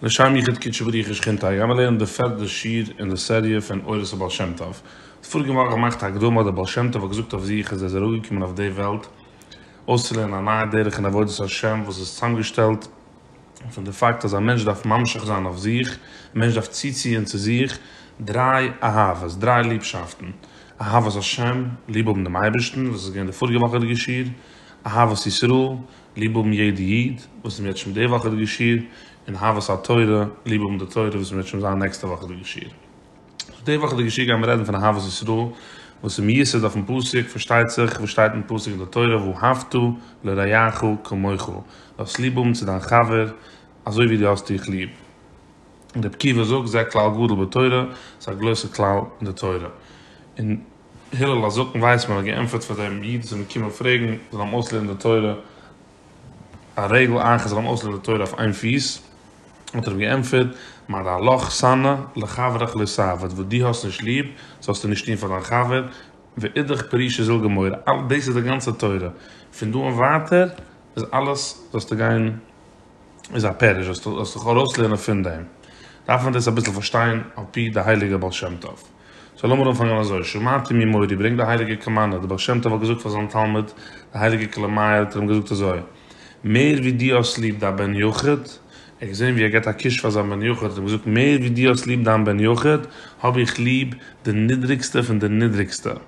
לשם יחוד קודשא בריך הוא שכינתא גיימער לערנען די פערדע שיעור אין די סעריע פון אורות הבעל שם טוב די פאריגע וואך געמאכט א הקדמה אז די בעל שם טוב האט געזאגט אויף זיך אז ער איז אראפגעקומען אויף די וועלט אויסצולערנען א נייע דרך אין עבודת השם וואס איז צוזאמגעשטעלט פון די פאקט אז א מענטש דארף ממשיך זיין אויף זיך, א מענטש דארף צוציען צו זיך דריי אהבות, דריי ליבשאפטן, אהבת השם, ליב האבן דעם אייבערשטן, וואס איז געווען די פאריגע וואך אין די געשיר, אהבת ישראל, ליב האבן יעדע איד, וואס איז מיר יעצט שוין די וואך אין די געשיר, און אהבת התורה, ליב האבן די תורה, וואס איז מיר יעצט שוין זיין נעקסטע וואך אין די געשיר. סאו די וואך אדער געשיר גייען מיר רעדן פון אהבת ישראל וואס איז מיוסד אויפן פסוק פארשטייט זיך וואס שטייט אין פסוק אין די תורה ואהבת לרעיך כמוך דו האסט ליב האבן צו דיין חבר אזוי ווי דו האסט דיך ליב און ר' עקיבא זאגט זה כלל גדול בתורה עס איז א גרויסע כלל אין די תורה און הלל הזקן ווייסמאן האט געענטפערט פאר דעם איד וואס איז געקומען פרעגן זאל אים אויסלערנען די תורה. א רגל אייך איז אן אוסר לתורה אויף איין פיס, האט ער אים געענטפערט, מה דהלך שנא לחברך לא סע, וואס דו האסט נישט ליב, זאלסטו נישט טון פאר דיין חבר, ואידך פרישא זיל גמורה, אלעס דאס איז די גאנצע תורה, פון דא און ווייטער איז אלעס זאלסטו גיין איז א פירוש, זאלסטו זאלסטו דיך ארויסלערנען פון דעם, דארף מען דאס אביסל פארשטיין על פי די הייליגע בעל שם טוב. סאו לאמיר אנפאנגען אזוי, שמעתי ממורי, ברענגט די הייליגע קאמאנדע, די בעל שם טוב האט געזאגט פאר זיין תלמיד די הייליגע כלה מאיר האט ער אים געזאגט אזוי, מער ווי דו האסט ליב דיין בן יחיד, ער האט געזען ווי ער געבט א קוש פאר זיין בן יחיד, האט ער אים געזאגט, מער ווי דו האסט ליב דיין בן יחיד, האב איך ליב די נידריגסטע פון די נידריגסטע.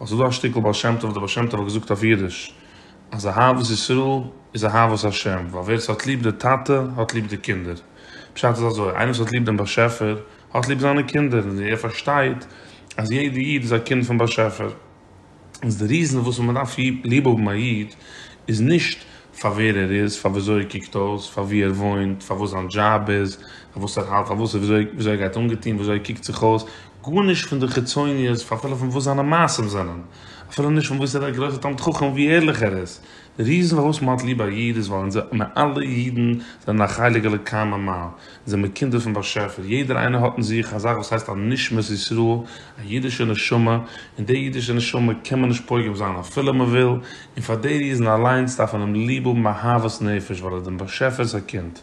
ווייל ס'איז דא א שטיקל בעל שם טוב, דער בעל שם טוב האט געזאגט אויף אידיש אז אהבת ישראל איז אהבת השם, ווייל ווער ס'האט ליב די טאטע האט ליב די קינדער, פשט איז אזוי, איינער וואס האט ליב דעם באשעפער האט ליב זיינע קינדער, און ער פארשטייט אז יעדע איד איז א קינד פון באשעפער. איז די ריזן וואס מען דארף ליב האבן א איד איז נישט פאר ווער ער איז, פאר וויאזוי ער קוקט אויס, פאר וואו ער וואוינט, פאר וואס זיין דזשאב איז, פאר וואס ער האלט, פאר וואס און וויאזוי ער גייט אנגעטון, וויאזוי ער קוקט זיך אויס, גארנישט פון די חיצוניות, אפילו פון וואס זיינע מעשים זענען, אפילו נישט פון וואס ער איז א גרויסער תלמיד חכם און ווי ערליך ער איז. די ריזן פארוואס מען האט ליב א איד איז ווייל אונזער מיר אלע אידן זענען א חלק אלוקי ממעל, אונז זעמיר קינדער פון באשעפער, יעדער איינער האט אין זיך א זאך וואס הייסט א נשמת ישראל, א אידישע נשמה, און די אידישע נשמה קען מען נישט פוגם זיין אפילו מען וויל, און פאר די ריזן אליינס דארף מען אים ליב האבן אהבת נפש ווייל ער איז דעם באשעפער'ס א קינד.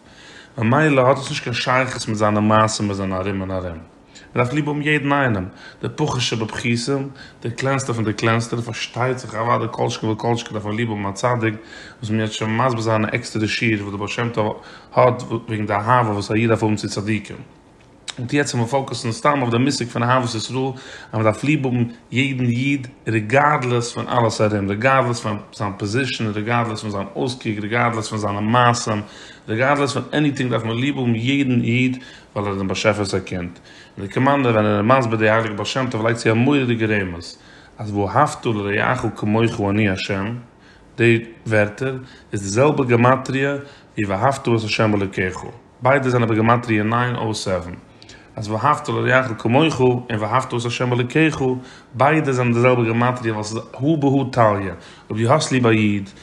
ממילא האט עס נישט קיין שייכות מיט זיינע מעשים וואס זענען ארום און ארום. ער דארף ליב האבן יעדן איינעם, דער פחד שבפחיתים, דער קלענסטער פון די קלענסטע, פארשטייט זיך אוודאי כל שכן וכל שכן דארף ער ליב האבן א צדיק, וואס מען וועט שוין מסביר זיין אין עקסטערע שיעור וואס דער בעל שם טוב האט וועגן די אהבה וואס א איד דארף האבן צו צדיקים. און טו יעצט זיך מיר פאוקוסן סתם אויף דעם מושג פון אהבת ישראל, אז מען דארף ליב האבן יעדן איד ריגארדלעס פון אלעס ארום, ריגארדלעס פון זיין פאזישאן, ריגארדלעס פון זיין אויסקוק, ריגארדלעס פון זיינע מעשים, ריגארדלעס פון עניטינג דארף מען ליב האבן יעדן איד, ווייל ער איז דעם באשעפער'ס א קינד, און דער קומענדער ווען ער איז מסביר די הייליגע בעל שם טוב לייגט צו א מורא'דיגע רמז אז ואהבת לרעך כמוך אני ה', די ווערטער איז די זעלבע גמטריא ווי ואהבת את ה' אלוקיך, ביידע זענען בגמטריא נײַן אויף זיבן, אז ואהבת לרעך כמוך און ואהבת את ה' אלוקיך ביידע זענען די זעלבע גמטריא ווייל ס'איז הא בהא תליא, אויב דו האסט ליב א איד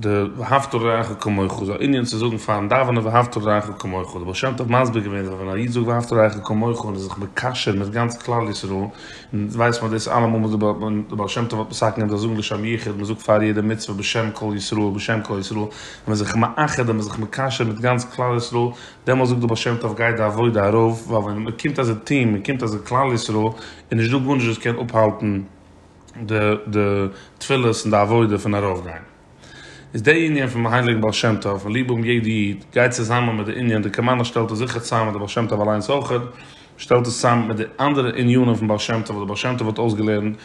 די ואהבת לרעך כמוך איז א ענין צו זאגן פארן דאווענען ואהבת לרעך כמוך, די בעל שם טוב מסביר געווען אז ווען א איד זאגט ואהבת לרעך כמוך און איז זיך מקשר מיט גאנץ כלל ישראל, און ווייסט מען דאס אלעמאל וואס די בעל שם טוב האט מסכים געווען זיי זאגן לשם יחוד, מען זאגט פאר יעדע מצוה בשם כל ישראל בשם כל ישראל, און מען איז זיך מאחד און מען איז זיך מקשר מיט גאנץ כלל ישראל, דעמאלס זאגט די בעל שם טוב גייט די עבודה ארויף, ווייל ווען מען קומט אזוי טון, מען קומט אזוי כלל ישראל, איז נישט דא גארנישט וואס קען אפהאלטן. די די תפילות און די עבודה פון ארויף גיין. איז די ענין פון הייליגן בעל שם טוב און ליב האבן יעדע איד גייט צוזאמען מיט די ענין די קאמאנא שטעלט עס זיכער צוזאמען מיט די בעל שם טוב אליינס אויכעט שטעלט עס צוזאמען מיט די אנדערע ענינים פון בעל שם טוב וואס די בעל שם טוב האט אויסגעלערנט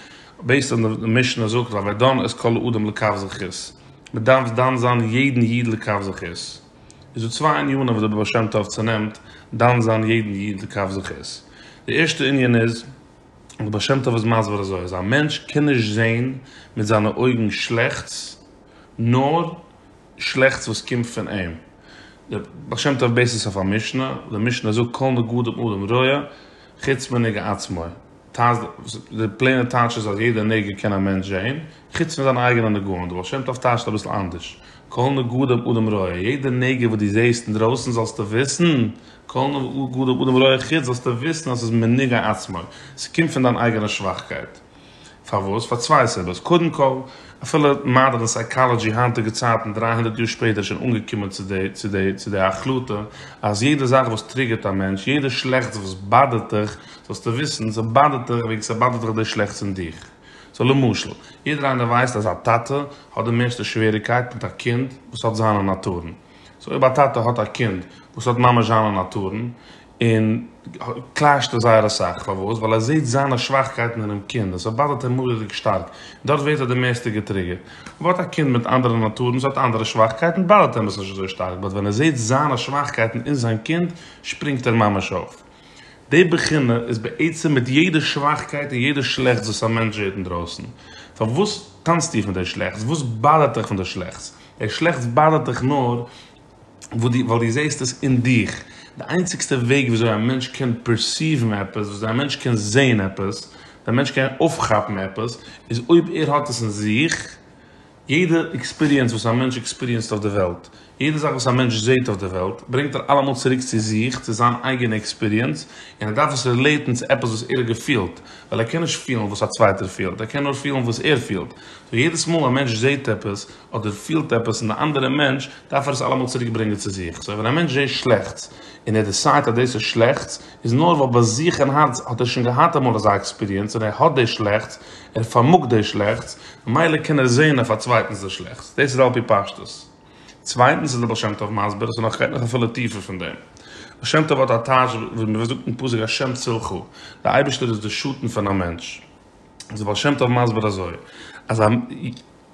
בעיסד אן די משנה זאגט א ודן את כל האדם לקו זכות מען דארף דן זיין יעדן איד לקו זכות איז דא צוויי ענינים וואס די בעל שם טוב צונעמט דן זיין יעדן איד לקו זכות די ערשטע ענין איז די בעל שם טוב איז מסביר אזוי אז א מענטש קען נישט זעהן מיט זיינע אויגן שלעכטס נאר שלעכטס וואס קומט פון אים, די בעל שם טוב בעיסט עס אויף א משנה, די משנה זאגט כל נגודם אדם רע חוץ מנגע עצמו, די פלעינע טייטש איז אז יעדע נגע קען א מענטש זעהן חוץ פון זיינע אייגענע נגעים, די בעל שם טוב טייטשט אביסל אנדערש כל נגודם אדם רע, יעדע נגע וואס דו זעהסט אינדרויסן זאלסטו וויסן כל נביא גדול בדבר רואה חוץ זאלסטו וויסן אז עס איז מנהיג העצמו, עס קומט פון דיין אייגענע שוואכקייט. פארוואס? פאר צוויי סיבות, קודם כל, אפילו מאדערן סייקאלעדזשי היינטיגע צייטן דרײַ הונדערט יאר שפעטער איז שוין אנגעקומען צו די החלטה אז יעדע זאך וואס טריגערט א מענטש, יעדע שלעכטס וואס באדערט דיך, זאלסטו וויסן, ס'איז באדערט דיך וועגן ס'באדערט דיך די שלעכטס אין דיך. סאו למשל, יעדער איינער ווייסט אז א טאטע האט די מערסטע שוועריגקייט מיט א קינד וואס האט זיינע נאטורן. סאו אויב א טאטע האט א קינד וואס האט ממש זיינע נאטורן, און קלעשט עס זייער אסאך, פארוואס? ווייל ער זעהט זיינע שוואכקייטן אינעם קינד, און ס'באדערט אים מורא'דיג שטארק, און דארט ווערט ער די מערסטע געטריגערט. אויב האט א קינד מיט אנדערע נאטורן, ס'האט אנדערע שוואכקייטן, באדערט אים עס נישט אזוי שטארק, באט ווען ער זעהט זיינע שוואכקייטן אין זיין קינד, שפרינגט ער ממש אויף. די בחינה איז בעצם מיט יעדע שוואכקייט און יעדע שלעכטס וואס א מענטש זעהט אינדרויסן. פארוואס טאנצט איר פון די שלעכטס? וואס באדערט אייך פון די שלעכטס? דער שלעכטס באדערט דיך נאר ווייל דו זעסט עס אין דיך. די איינציגסטע וועג וויאזוי א מענטש קען פערסיוון עפעס, וויאזוי א מענטש קען זען עפעס, די מענטש קען אויפכאפן עפעס, איז אויב ער האט עס אין זיך. יעדע עקספיריענס וואס א מענטש עקספיריענסט אויף די וועלט, יעדע זאך וואס א מענטש זעט אויף די וועלט, ברענגט ער אלעמאל צוריק צו זיך, צו זיין אייגענע עקספיריענס, און ער דארף עס רילעיטן צו עפעס וואס ער האט געפילט, ווייל ער קען נישט פילן וואס א צווייטער פילט, ער קען נאר פילן וואס ער פילט. סאו יעדעס מאל א מענטש זעט עפעס, אדער פילט עפעס און די אנדערע מענטש, דארף ער עס אלעמאל צוריק ברענגען צו זיך. סאו ווען א מענטש זעהט שלעכטס און ער דיסיידט אז דאס איז שלעכטס, איז נאר ווייל ביי זיך אין הארץ האט ער שוין געהאט אמאל אזא עקספיריענס און ער האט דאס שלעכטס, ער פארמאגט דאס שלעכטס, ממילא קען ער זעהן אויף א צווייטנס דאס שלעכטס. דאס איז על פי פשטות. צווייטנס איז דער בעל שם טוב מסביר עס נאך, עס גייט נאך אפילו טיפער פון דעם. בעל שם טוב האט א טייטש ווי מען זאגט אין פסוק ה' צילך, דער אייבערשטער איז דער שטן פון א מענטש. איז בעל שם טוב מסביר אזוי, אז א.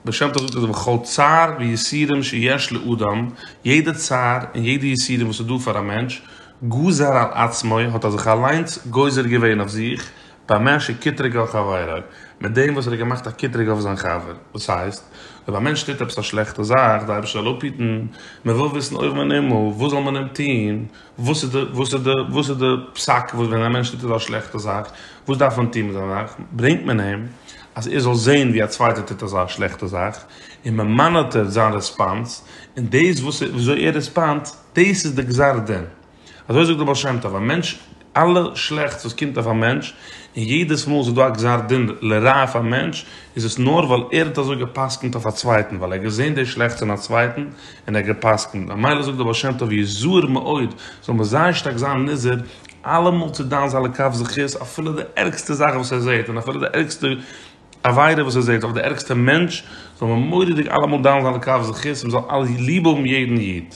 בעל שם טוב זאגט אז וכל צער ויסורים שיש לאדם, יעדע צער און יעדע יסורים וואס איז דא פאר א מענטש, גזר על עצמו, האט ער זיך אליינס גוזר געווען אויף זיך, במה שקטרג על חברו, מיט דעם וואס ער האט געמאכט א קטרוג אויף זיין חבר. וואס הייסט? אויב א מענטש טוט עפעס א שלעכטע זאך, די אייבערשטער זאל אפהיטן, מען וויל וויסן אויבן און הימל, וואס זאל מען אים טון? וואס איז די וואס איז די וואס איז די פסק וואס ווען א מענטש טוט אזא שלעכטע זאך וואס דארף מען טון מיט אזא זאך ברענגט מען אים אז ער זאל זעהן ווי א צווייטער טוט אזא שלעכטע זאך און מען מאנאטערט זיין רעספאנס און דאס וואס ער וויאזוי ער רעספאנד דאס איז די גזר דין אזוי זאגט די בעל שם טוב א מענטש אלע שלעכטס וואס קומט אויף א מענטש און יעדעס מאל ס'איז דא א גזר דין לרעה אויף א מענטש איז עס נאר ווייל ער האט אזוי גע'פסק'נט אויף א צווייטן ווייל ער האט געזעהן די שלעכטס אין א צווייטן און ער האט גע'פסק'נט, ממילא זאגט דער בעל שם טוב יזהר מאוד, זאל מען זייער שטארק זיין נזהר אלעמאל צו דן זיין לכף זכות אפילו די ערגסטע זאך וואס ער זעט, און אפילו די ערגסטע עבירה וואס ער זעט, אדער די ערגסטע מענטש, זאל מען מורא'דיג אלעמאל דן זיין לכף זכות, מען זאל ליב האבן יעדן איד.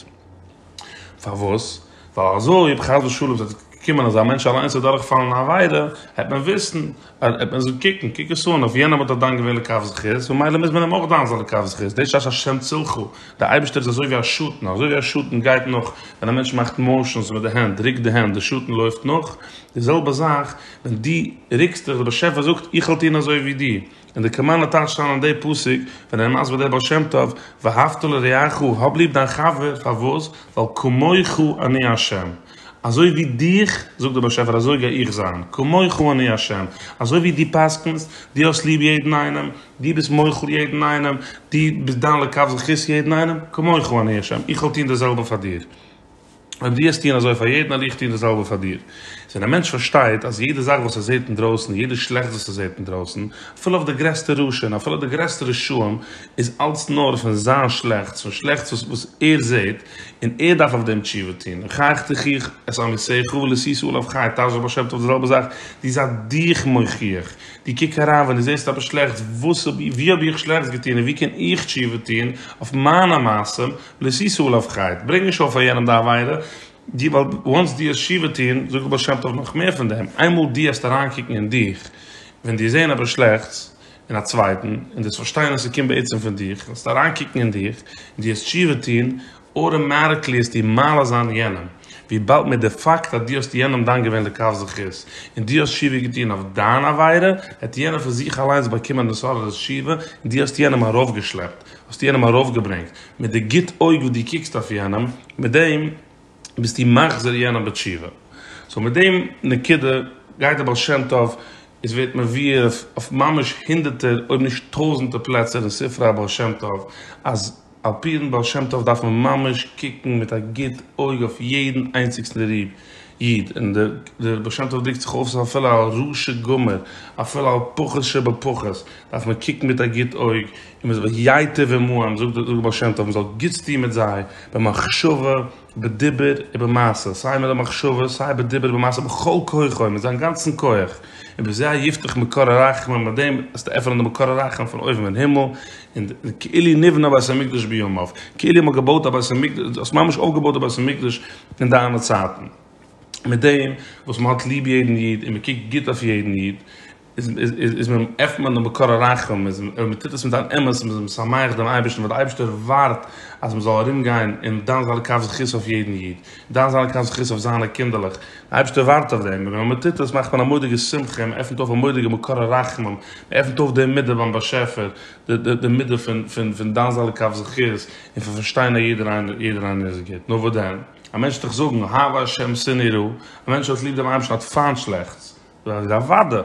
פארוואס? ווייל אזוי אויב חס ושלום זאל קומען אז א מענטש אליינס זאל דורך פאלן אין א עבירה, העט מען וויסן, העט מען זאגן קוק, קוק עס אן, אויף יענעם האט ער דן געווען לכף זכות, ממילא מוז מען אים אויך דן זיין לכף זכות, דאס שש השם צילך, דער אייבערשטער איז אזוי ווי א שטן, אזוי ווי א שטן גייט נאך, ווען א מענטש מאכט מאושענס מיט די הענט, ריקט די הענט, דער שטן לויפט נאך, די זעלבע זאך, ווען דו ריקסט דיך, דער באשעפער זאגט, איך וועל טון אזוי ווי דו. און די קאמאנדע טייטשט אריין אין די פסוק ווען ער איז מסביר די בעל שם טוב ואהבת לרעך האב ליב דיין חבר פארוואס ווייל כמוך אני ה' אזוי ווי דיך זאגט דער באשעפער אזוי גיי איך זיין כמוך אני ה' אזוי ווי דו פסק'נסט דו האסט ליב יעדן איינעם דו ביסט מוחל יעדן איינעם דו ביסט דן לכף זכות יעדן איינעם כמוך אני ה' איך וועל טון די זעלבע פאר דיר. אויב דו וועסט טון אזוי פאר יעדן וועל איך טון די זעלבע פאר דיר. איז ווען א מענטש פארשטייט אז יעדע זאך וואס ער זעט אינדרויסן, יעדע שלעכטס וואס ער זעט אינדרויסן, אפילו אויף די גרעסטע רשע און אפילו די גרעסטע רשעים, איז אלץ נאר פון זיין שלעכטס, פון שלעכטס וואס וואס ער זעט, און ער דארף אויף דעם תשובה טון, און חייך תוכיח את עמיתך ולסיסו עליו חי, טייטש דער בעל שם טוב די זעלבע זאך, דו זיי דיך מוכיח, דו קוק אריין ווען דו זעסט עפעס שלעכטס, וואס האב איך, וואו האב איך שלעכטס געטון און וואו קען איך תשובה טון אויף מיינע מעשים, לשיא סאלאווקייט, ברענג נישט אויף פאר יענעם די עבירה, דו ווייל וואנס דו האסט תשובה טון, זאגט דער בעל שם טוב נאך מער פון דעם, איינמאל דו העסט אריינקוקן אין דיך, ווען דו זעהן עפעס שלעכטס אין א צווייטן, און דו האסט פארשטיין אז ס'קומט בעצם פון דיך, וועסטו אריינקוקן אין דיך, און דו העסט תשובה טון, אוטאמאטיקלי העסטו מעלה זיין יענעם, וויבאלד מיט די פאקט אז דו האסט יענעם דן געווען לכף זכות, און דו האסט תשובה געטון אויף דיין עבירה, וועט יענער פון זיך אליינס באקומען מסורתית תשובה, און דו האסט יענעם ארויפגעשלעפט, האסטו יענעם ארויפגעברענגט מיט די גוט אויג וואס דו קוקסט אויף יענעם, מיט דעם ביסטו מחזיר יענעם בתשובה. סאו מיט דעם נקודה גייט דער בעל שם טוב, עס ווערט מבואר אויף ממש הונדערטער אויב נישט טויזענטער פלעצער אין ספרי הבעל שם טוב, אז על פי דעם בעל שם טוב דארף מען ממש קוקן מיט א גוט אויג אויף יעדן איינציגסטן איד, און דער בעל שם טוב דרוקט זיך אויס אפילו על רשע גמור, אפילו על פחות שבפחות דארף מען קוקן מיט א גוט אויג. און מען זאל זיך ייטב עמהם, זאגט דער בעל שם טוב, מען זאל גוטס טון מיט זיי, במחשבה, בדיבור, ובמעשה, סיי מיט די מחשבה, סיי בדיבור ובמעשה, בכל כוחו, מיט זיין גאנצן כח, ובזה יפתח מקור הרחמים, מיט דעם וועסטו עפענען די מקור הרחמים פון אויבן אין הימל, און כאילו נבנה בית המקדש בימיו, כאילו מען האט געבויט א בית המקדש, דו האסט ממש אויפגעבויט די בית המקדש אין דיינע צייטן, מיט דעם וואס מען האט ליב יעדן איד און מען קוקט גוט אויף יעדן איד, איז מען עפנט מען דעם מקור הרחם, איז מען טוט עס מיט אן אמת, מען איז משמח דעם אייבערשטן, ווייל דער אייבערשטער ווארט אז מען זאל ארום גיין און דן זיינע כף זכות אויף יעדן איד, דן זיינע כף זכות אויף זיינע קינדערלעך, דער אייבערשטער ווארט אויף דעם, און ווען מען טוט עס מאכט מען א מודיגע שמחה און מען עפנט אויף א מודיגע מקור הרחמים, מען עפנט אויף די מידה ביים באשעפער, די מידה פון דן זיינע כף זכות און פון פארשטיין אז יעדער איינער איז גוט, נו וואס דען? א מענטש וועט דאך זאגן, אהבה ה' שנא יראה, א מענטש וואס האט ליב דעם אייבערשטן האט פיינט שלעכטס, זאג איך אוודאי.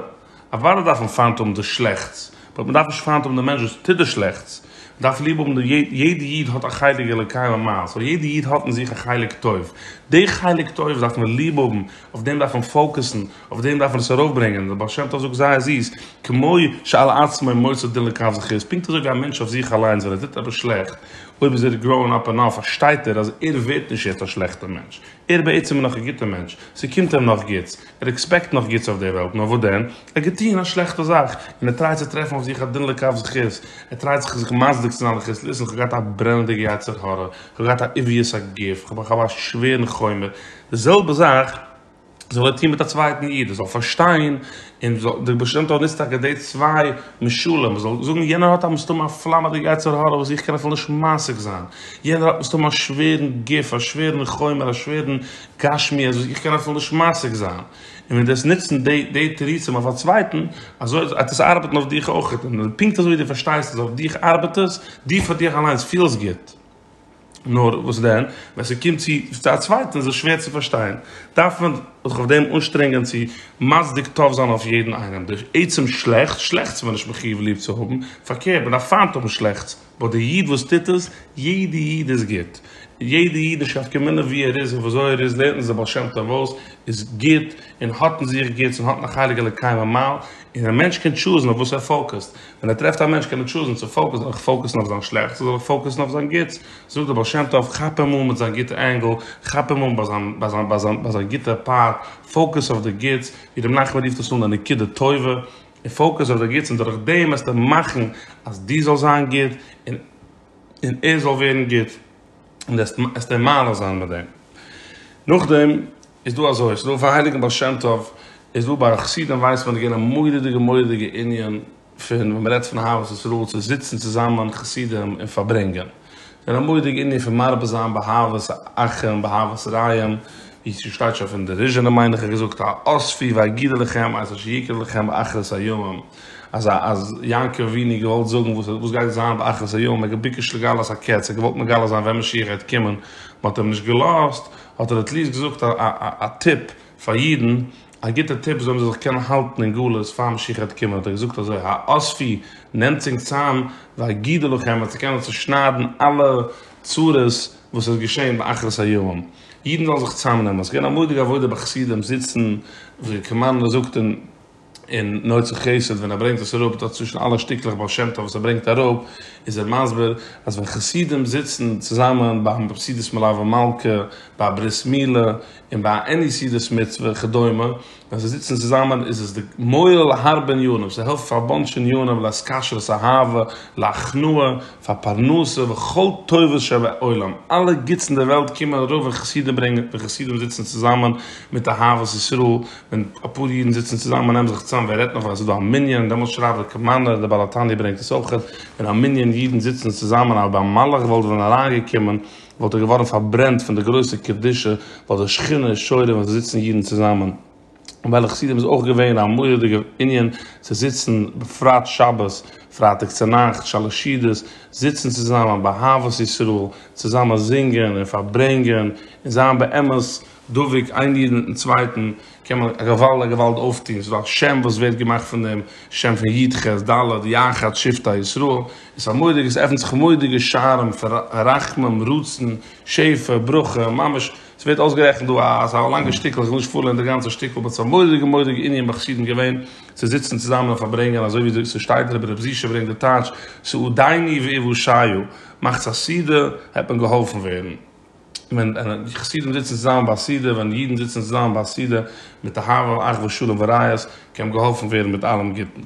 אוודאי דארף מען פיינט האבן די שלעכטס, באט מען דארף נישט פיינט האבן די מענטש וואס טוט די שלעכטס, מען דארף ליב האבן די יעדע איד האט א חלק אלוקי ממעל, סאו יעדע איד האט אין זיך א חלק טוב, די חלק טוב דארף מען ליב האבן, אויף דעם דארף מען פאוקעסן, אויף דעם דארף מען עס ארויף ברענגען, דער בעל שם טוב זאגט זייער זיס, כמו שעל עצמו מוסר דין לקב זכות, איז פונקט אזוי ווי א מענטש אויף זיך אליינס ווען ער טוט עפעס שלעכט, אויב איז ער גראון אפ ענאף פארשטייט ער אז ער ווערט נישט יעצט א שלעכטער מענטש, ער בעצם איז נאך א גוטער מענטש, ס'קומט אים נאך גוטס, ער עקספעקט נאך גוטס אויף די וועלט, נאר וואס דען? ער האט געטוהן א שלעכטע זאך, און ער טרייט צו טרעפן אויף זיך א דין לכף זכות, ער טרייט זיך זיך מצדיק צו זיין על חז ל, איך האב געהאט א ברענעדיגע יצר הרע, איך האב געהאט א עוויעס א גוף, איך האב א שווערן חומר, די זעלבע זאך זאל ער טוהן מיט א צווייטן איד, ער זאל פארשטיין, און דער בעש ט נוצט טאקע די צוויי משלים, ער זאל זאגן יענער האט מסתמא א פלאמעדיגע יצר הרע וואס איך קען אפילו נישט משיג זיין, יענער האט מסתמא א שווערן גוף, א שווערן חומר, א שווערן גשמי אז איך קען אפילו נישט משיג זיין, און ווען דו וועסט נוצן די תירוצים אויף א צווייטן, אזוי וועט עס ארבעטן אויף דיך אויך, און פונקט אזוי ווי דו פארשטייסט אז אויף דיך ארבעט עס, דו פאר דיך אליינס פילסט גוט, נאר וואס דען, ווען ס'קומט צו א צווייטן איז עס שווער צו פארשטיין, דארף מען זיך אויף דעם אנשטרענגען צו מצדיק טוב זיין אויף יעדן איינעם, דורך עצם שלעכטס, שלעכטס איז מען נישט מחיוב ליב צו האבן, פארקערט, מען דארף פיינט האבן שלעכטס. באט די איד וואס טוט עס, יעדע איד איז גוט, יעדע אידישאפט קען מילא ווי ער איז און וויאזוי ער איז לערנט אונז דער בעל שם טוב אויס, איז גוט און האט אין זיך גוטס און האט נחלק אלוקי ממעל, און א מענטש קען טשוזן אויף וואס ער פאוקעסט, ווען ער טרעפט א מענטש קען ער טשוזן צו פאוקעסן, זאל איך פאוקעסן אויף זיין שלעכטס אדער זאל איך פאוקעסן אויף זיין גוטס, זאגט דער בעל שם טוב כאפ אים אן מיט זיין גוטע ענגל, כאפ אים אן ביי זיין ביי זיין ביי זיין ביי זיין גוטע פארט, פאוקעס אויף די גוטס, ווי ר' מנחם רופט עס אן די נקודה טובה. און פאוקוס אויף די גוטס און דורך דעם וועסטו מאכן אז דו זאלסט זיין גוט און און ער זאל ווערן גוט און דו עסט אים מעלה זיין מיט דעם. נאכדעם איז דא אזוי, ס'איז דא אויפן הייליגן בעל שם טוב, איז דא ביי חסידים ווייס מען איז געווען א מורא'דיגע מורא'דיגע ענין פון ווען מ'רעדט פון אהבת ישראל צו זיצן צוזאמען חסידים און פארברענגען. און א מורא'דיגע ענין פון מרבה זיין באהבת אחים באהבת רעים, ווי ס'שטייט שוין פון די ראשונים מיין איך געזאגט א אספי ואגידה לכם את אשר יקרה לכם באחרית הימים, אז אז יעקב אבינו האט געוואלט זאגן וואס וואס גייט זיין באחרית הימים, ער האט געביקשט לגלות הקץ, ער האט געוואלט מגלה זיין ווען משיח גייט קומען, מען האט אים נישט געלאזט, האט ער עטליעסט געזאגט א א טיפ פאר אידן. א גוטע טיפ זאלן זיי זיך קענען האלטן אין גלות פאר משיח העט קומען האט ער געזאגט אזוי האספי נעמטס אונגס צאם ואגידה לכם אז צו קענען צושניידן אלע צרות וואס איז געשען באחרית הימים אידן זאלן זיך צאם נעמען ס'געווען א מודיג עבודה ביי חסידים זיצן ווי כמאן ער זאגט אין אין נוצר חסד ווען ער ברענגט עס אראפ דארט צווישן אלע שטיקלעך בעל שם טוב וואס ער ברענגט אראפ איז ער מסביר אז ווען חסידים זיצן צוזאמען ביים סעודת מלוה מלכה ביי ברית מילה און ביי א עני סעודת מצוה וכדומה ווען זיי זיצן צוזאמען איז עס די מועיל להרבה עניינים, ס'העלפט פאר א באנטש עניינים לעת כשרות אהבה להכנעה פאר פרנסה וכל טובות שבעולם, אלע גוטס אין די וועלט קומען ארויף ווען חסידים ברענגען ווען חסידים זיצן צוזאמען מיט אהבת ישראל, ווען אפאר אידן זיצן צוזאמען און נעמען זיך צוזאם, ווער רעדט נאך ווען עס איז דא א מנין, דעמאלטס שרייבט דער קעמאנער, דער בעל התניא ברענגט עס אויכעט, ווען א מנין אידן זיצן צוזאמען אז ביי א מלאך וואלט ווען אריינגעקומען, וואלט ער געווארן פארברענט פון די גרויסע קדושה ווייל די שכינה איז שורה ווען זיי זיצן אידן צוזאמען און ביי די חסידים איז אויך געווען א מורא'דיגע ענין צו זיצן בפרט שבת פרייטאג צונאכטס שאלעשידעס זיצן צוזאמען באהבת ישראל צוזאמען זינגען און פארברענגען און זיין באמת דבוק איין איד מיטן צווייטן קען מען א געוואלד א געוואלד אויפטוהן, ס'איז דא א שם וואס ווערט געמאכט פון דעם שם פון י ח ד י אחד שבטי ישראל, און ס'איז א מורא'דיגע, ס'עפנט זיך מורא'דיגע שערים פון רחמים, רצון, שפע, ברכה, ממש, ס'ווערט אויסגערעכנט דא א אזא לאנגע שטיקל, איך וויל נישט פארלערן די גאנצע שטיקל, באט ס'איז א מורא'דיגע מורא'דיגע ענין ביי חסידים געווען צו זיצן צוזאמען און פארברענגען אזוי ווי ס'שטייט דער רבי זי ע ברענגט די טייטש, סעודייני ואיוושעיו, מאכטס א סעודה, העט מען געהאלפן ווערן. ווען חסידים זיצן צוזאמען ביי א סעודה, ווען אידן זיצן צוזאמען ביי א סעודה מיט אהבה און אחווה שלום ורעות, קען מען געהאלפן ווערן מיט אלעם גוטן.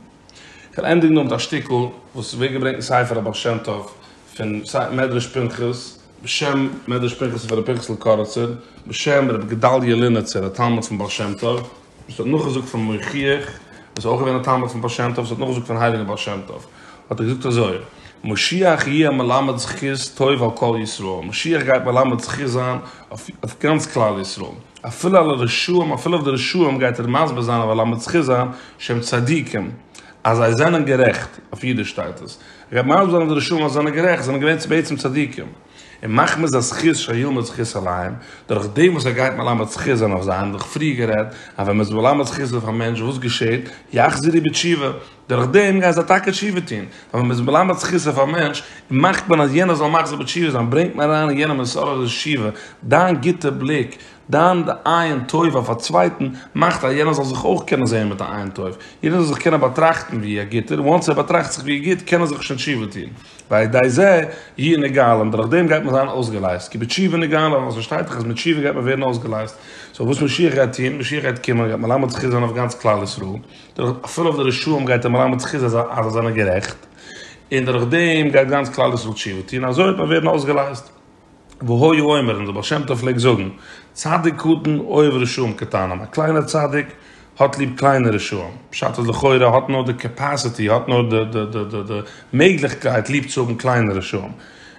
כ'וועל ענדיגן נאר מיט א שטיקל וואס ווערט געברענגט אין ספר הבעל שם טוב פון מדרש פנחס, בשם מדרש פנחס פון ר' פנחס'ל קאריצער, בשם ר' גדלי' לינעצער א תלמיד פון בעל שם טוב, וואס האט נאכגעזאגט פון מוכיח וואס איז אויך געווען א תלמיד פון בעל שם טוב וואס האט נאכגעזאגט פון הייליגן בעל שם טוב האט ער געזאגט אזוי משיח יהיה מלמד זכות טוב על כל ישראל משיח גייט מלמד זכות זיין אויף גאנץ כלל ישראל אפילו על הרשעים אפילו אויף די רשעים גייט ער מסביר זיין און מלמד זכות זיין שהם צדיקים אז זיי זענען גערעכט אויף אידיש שטייט עס ער גייט מסביר זיין די רשעים אז זיי זענען גערעכט זיי זענען געווען בעצם צדיקים. און מחמת הזכות שילמד זכות עליהם, דורך דעם וואס ער גייט מלמד זכות זיין אויף זיי, האבן זיך פריער גערעדט אז ווען מען איז מלמד זכות אויף א מענטש וואס געשעט? יחזירי בתשובה, דורך דעם גייען זיי טאקע תשובה טון, ווייל ווען מען איז מלמד זכות אויף א מענטש און מאכט מען אז יענער זאל מחזיר בתשובה זיין ברענגט מען אריין אין יענעם איסור התשובה, דיין גוטע בליק, דיין עין טובה אויף א צווייטן מאכט אז יענער זאל זיך אויך קענען זען מיט א עין טובה, יענער זאל זיך קענען באטראכטן ווי א גוטער, וואנס ער באטראכט זיך ווי גוט קען ער זיך שוין תשובה טון. ועל ידי זה יהיה נגאלין, דורך דעם גייט מען זיין אויסגעלייזט, כי בתשובה נגאלין, ווייל עס פארשטייט זיך אז מיט תשובה גייט מען ווערן אויסגעלייזט. סאו וואס משיח גייט טון? משיח גייט קומען, גייט מלמד זכות זיין אויף גאנץ כלל ישראל, דורך אפילו אויף די רשעים גייט ער מלמד זכות אז זיי זענען גערעכט, און דורך דעם גייט גאנץ כלל ישראל תשובה טון, אזוי וועט מען ווערן אויסגעלייזט. והוי אומר, און דער בעל שם טוב פלעגט זאגן, צדיק קטן אוהב רשעים קטנים, א קליינער צדיק האט ליב קליינע רשעים, פשט אז לכאורה ער האט נאר די קעפעסיטי, ער האט נאר די די די די די מעגליכקייט ליב צו האבן קליינע רשעים.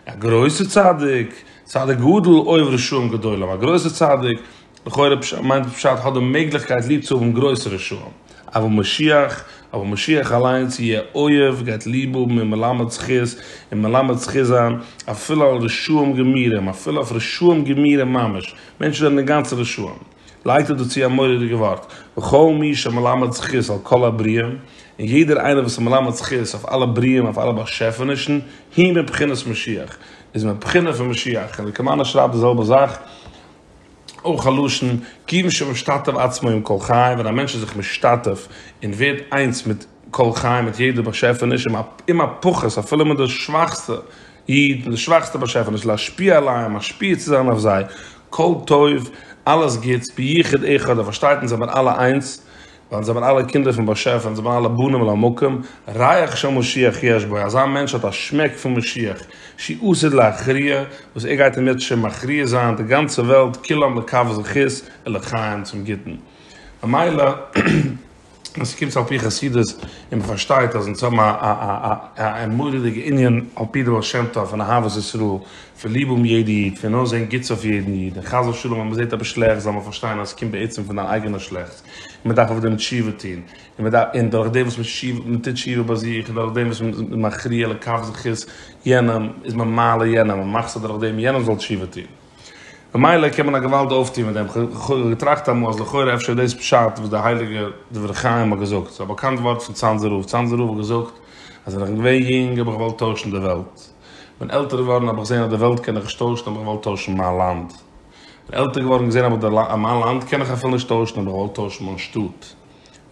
א גרויסער צדיק, צדיק גדול אוהב רשעים גדולים, א גרויסער צדיק, לכאורה מיינט דאס פשט האט די מעגליכקייט ליב צו האבן גרויסע רשעים, אבל משיח, אבער משיח אליינס יהיה אוהב גייט ליב האבן און מלמד זכות און מלמד זכות זיין אפילו על רשעים גמורים, אפילו אויף רשעים גמורים ממש, מענטשן זענען אינגאנצן רשעים. לייגט ער דא צו א מורא'דיגע ווארט, וכל מי שמלמד זכות על כל הבריאה, און יעדער איינער וואס איז מלמד זכות אויף אלע בריאים אויף אלע באשעפענישן, הוא מבחינת משיח, איז מבחינה פון משיח, און די קאמאנא שרייבט די זעלבע זאך. אויך א לשון כי מי שמשתתף עצמו עם כל חי, ווען א מענטש איז זיך משתתף און ווערט איינס מיט כל חי, מיט יעדע באשעפעניש, עם הפחות, אפילו מיט די שוואכסטע איד, מיט די שוואכסטע באשעפעניש, להשפיע עליהם, משפיע צו זיין אויף זיי, כל טוב, אלעס גוטס, ביחוד אחד, ער פארשטייט אונז זעמיר אלע איינס, ווייל זיי זענען אלע קינדער פון באשעפער און זיי זענען אלע בנים למקום, ריח של משיח יש בו, אזא מענטש האט א שמעק פון משיח, שיעתד להכריע, וואס ער גייט אינמיטשען מכריע זיין די גאנצע וועלט כולם לכף זכות און לחיים צום גוטן. ממילא ווען ס'קומט צו על פי חסידות און מ'פארשטייט אז אונז האבן א א מורא'דיגע ענין על פי די בעל שם טוב פון אהבת ישראל, פון ליב האבן יעדע איד, פון אויסזען גוטס אויף יעדן איד, און חס ושלום אז מ'זעט עפעס שלעכטס זאל מען פארשטיין אז ס'קומט בעצם פון דיין אייגענע שלעכטס. און מען דארף אויף דעם תשובה טון, און דורך דעם וואס מען טוט תשובה ביי זיך, און דורך דעם וואס מען איז מכריע לכף זכות יענעם, איז מען מעלה יענעם, מען מאכט ס'דורך דעם יענער זאל תשובה טון. ממילא קען מען א געוואלד אויפטון מיט דעם. כ'האב געטראכט אמאל אז לכאורה אפשר איז דאס פשט וואס דער הייליגער דברי חיים האט געזאגט, ס'איז א באקאנט ווארט פון צאנזער רב, צאנזער רב האט געזאגט אז ווען איך בין געווען יונג האב איך געוואלט טוישן די וועלט, כ'בין עלטער געווארן האב איך געזען אז די וועלט קען איך נישט טוישן האב איך געוואלט טוישן מיין לאנד, עלטער געווארן געזען אז מיט די מיין לאנד קען איך אפילו נישט טוישן האב איך געוואלט טוישן מיין שטאט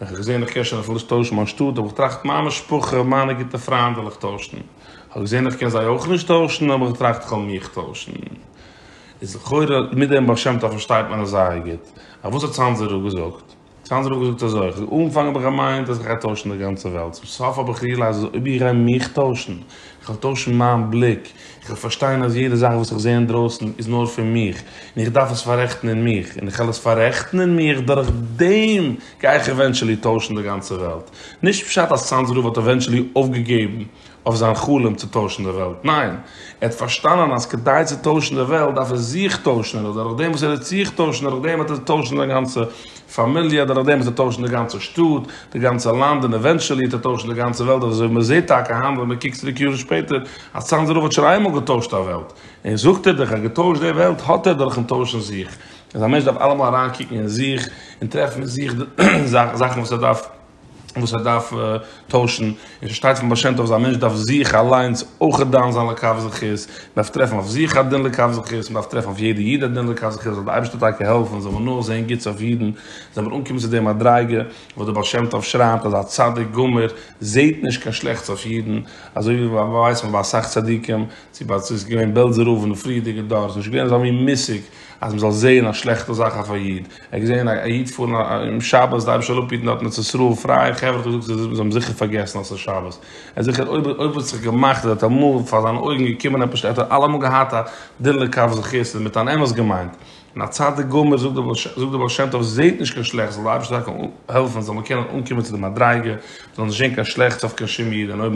ווען איך האב געזען איך קען שוין אפילו נישט טוישן מיין שטאט האב איך געטראכט מיין משפחה מיינע גוטע פריינט וועל איך טוישן איך האב געזען איך קען זיי אויך נישט טוישן האב איך געטראכט איך וועל מיך טוישן איז לכאורה מיט דעם בעל שם טוב פארשטייט מען עס זייער גוט אויף וואס האט צאנזער רב געזאגט? סאנדער האט געזאגט אזוי, איך האב אנגעפאנגען האב איך געמיינט אז איך גיי טוישן די גאנצע וועלט, צום סוף האב איך ריעלייזד אז אויב איך גיי מיך טוישן, איך וועל טוישן מיין בליק, איך וועל פארשטיין אז יעדע זאך וואס איך זע אינדרויסן איז נאר פון מיך, און איך דארף עס פאררעכטן אין מיך, און איך וועל עס פאררעכטן אין מיך, דורך דעם גיי איך עווענטשעלי טוישן די גאנצע וועלט. נישט פשט אז סאנדער האט עווענטשעלי אויפגעגעבן אויף זיין חלום צו טוישן די וועלט, ניין, ער האט פארשטאנען אז כדי צו טוישן די וועלט דארף ער זיך טוישן און אז דורך דעם וואס ער וועט זיך טוישן דורך דעם וועט ער טוישן זיין גאנצע פאמיליע, דורך דעם וועט ער טוישן די גאנצע שטאט, די גאנצע לאנד און עווענטשעלי וועט ער טוישן די גאנצע וועלט אזוי ווי מען זעט טאקע היינט ווען מען קוקט צוריק יארן שפעטער אז צאנזער רב האט שוין איינמאל געטוישט א וועלט און זאגט ער דיך אז געטוישט די וועלט האט ער דורכן טוישן זיך, אז א מענטש דארף אלעמאל אריינקוקן אין זיך און טרעפן אין זיך די זאכן וואס ער דארף וואס ער דארף טוישן, און ס'שטייט פון בעל שם טוב אז א מענטש דארף זיך אליינס אויכעט דן זיין לקב זכות, מען דארף טרעפן אויף זיך א דין לקב זכות, מען דארף טרעפן אויף יעדע איד א דין לקב זכות, זאל די אייבערשטער טאקע העלפן זאל מען נאר זען גוטס אויף אידן, זאל מען אנקומען צו די מדריגה וואס דער בעל שם טוב שרייבט אז א צדיק גמור זעט נישט קיין שלעכטס אויף אידן, אזוי ווי ווייסט מען ביי אסאך צדיקים, צו ביי ס'איז געווען בעלזער רב אין די פריערדיגע דור, ס'איז נישט געווען אזא מין מושג אז מען זאל זען א שלעכטע זאך אויף א איד. ער האט געזען א איד פארן אום שבת דארף שוין אפהיטן דארט אין ארץ ישראל פרייע חברה האט ער געזאגט זיי האבן זיכער פארגעסן אז עס איז שבת ער האט זיכער אויב אויב האט זיך געמאכט אז ער האט אמאל פאר זיינע אויגן געקומען עפעס ער האט אלעמאל געהאט א דין לקב זכות און מיט אן אמת געמיינט און א צדיק גמור זאגט די בעל שם טוב עס זעט נישט קיין שלעכטס זאל די אייבערשטער טאקע העלפן זאל מען קענען אנקומען צו די מדריגה מען זאל נישט זען קיין שלעכטס אויף קיין שום איד און אויב